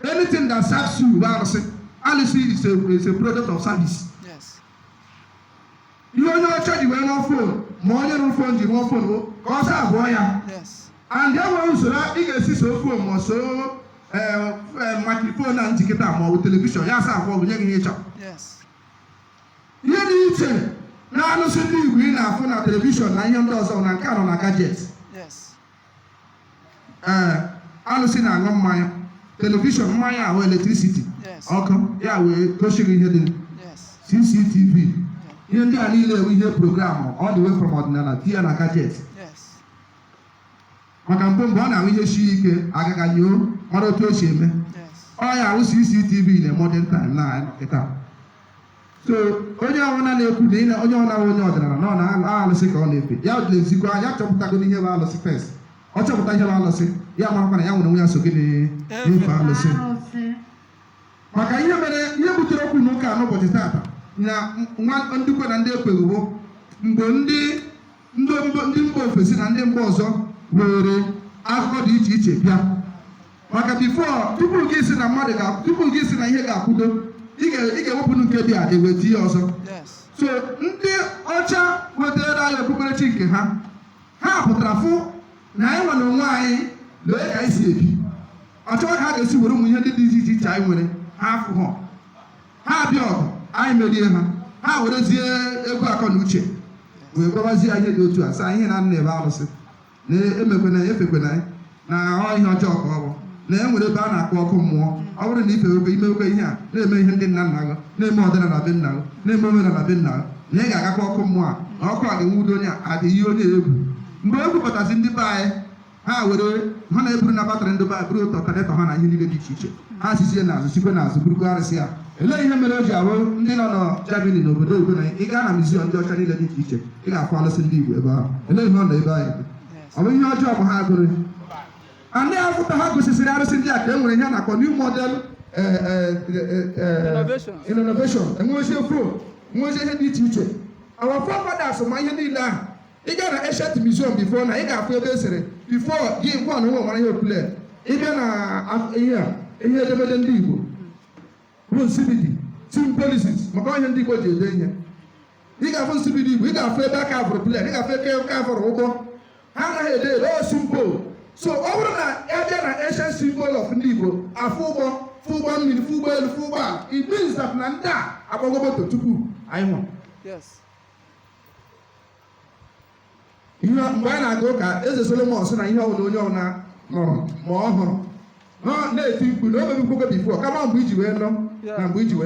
anything that serves you bụ arụsị alụsị is a is a product of service Yes. ihe onye ọcha ji wee rụọ fon ma onye rụrụ fon ji rụọ fon bụ ka ọ saavuo ya Yes. and e nwere usoro ị ga-esi soo fon ma ọ soo makrifon a m ji kịta ma ọ bụ telivishọn ya saavuo gị nye gị ihe ị chọrọ Yes. ihe dị iche na alụsị ndị igbo ị na-afụ na telivishọn na ihe ndị ọzọ na nke a nọ na gajet Yes. ee eh, alụsị na-aṅụ mmanya telivishọn mmanya ya wụ eletrisiti ọkụ ya wee gosi gị ihe dị cctv ihe ndị a niile wụ ihe e programụ all the way from ọdịnala tinye na gajet maka mbụ mgbe ọ na-awụ ihe sie ike a ga-aga nyoo mara otu o si eme ọ ya wụ cctv na modern time na kịta so onye ọbụla na-ekwu na onye ọbụla onye ọdịnala na ọ na alụsị ka ọ na-efe ya lezikwa ya chọpụtagodo ihe bụ alụsị first ọ chọpụta ihe bụ alụsị ya marakwa na ya nwere onwe ya so gị na-efe alụsị maka ihe mere ihe butere okwu na ụka n'ụbọchị taata na ndị kwe na ndị ekweghị wụ mgbe ndị ndị mba ofesi na ndị mba ọzọ were akụkọ dị iche iche bịa maka before tupu gị sị na mmadụ ga tupu gị sị na ihe ga-akwudo ị ga-ewepụ nke dị adị wee tinye ọzọ so ndị ọcha wetara anyị okpukperechi nke ha ha pụtara fụ na anyị nwere onwe anyị lee ka anyị si ebi ha chọọ ka ha ga-esi were ụmụ ihe ndị dị iche iche anyị nwere ha afụ na ha bịa ọgụ anyị merie ha ha werezie egwu akọ na uche wee gwabazie ihe dị otu a sị ihe na nna ebe arụsị na emekwana ya efekwana ya na ọ ihe ọjọọ ka ọ bụ na e nwere ebe a na-akpọ ọkụ mmụọ ọ bụrụ na ị fewekwa ị mewekwa ihe a na-eme ihe ndị nna nna gị na-eme ọdịnala be nna gị na-eme omenala be nna gị na ị ga-agakwa ọkụ mmụọ a na ọkụ a ga-enwudo onye a adị ihe onye egwu mgbe egwu batazi ndị be anyị ha were ha na-eburu na-abatara ndị be anyị buru ụtọ tanetọ ha na ihe niile dị iche iche ha sizie n'azụ sikwe n'azụ burukwa arụsị a Olee ihe mere o ji awụ ndị nọ na Germany na obodo oyibo na ị gaa na muziọm ndị ọcha niile dị iche iche ị ga-afụ alụsị ndị Igbo ebe ahụ olee ihe ọ nọ ebe anyị ọ bụ ihe ọjọọ bụ ha gụrụ ndị a foto ha gosisiri arụsị ndị a ka e nwere ihe a na-akpọ new model eh, eh, eh, Innovation. innovation e nwezie fon nwezie ihe dị iche iche our forefathers ma ihe niile ahụ ị gaa na ancient museum before na ị ga-afụ ebe e sere before gị nkwa na onwe nwara ihe opule ị bịa na af- ihe a, ihe edemede ndị Igbo bụ nsibidi symbolics maka ihe ndị Igbo ji ede ihe ị ga-afụ nsibidi Igbo ị ga-afụ ebe a kavụrụ plen ị ga-afụ ebe a kavụrụ ụgbọ ha anaghị ede ede ọ symbol so ọ bụrụ na ya bịa na ancient symbol of ndị Igbo afụ ụgbọ fụ ụgbọ mmiri fụ ụgbọ elu fụ ụgbọ ala it means that na ndị a agbago moto tupu anyị nwụrụ mgbe anyị na-aga ụka eze solomon sị na ihe ọbụla onye ọbụla nụrụ ma ọ hụrụ na- na-eti mkpu na o mebukwago before kama mgbe iji wee nọ na mgbe iji wee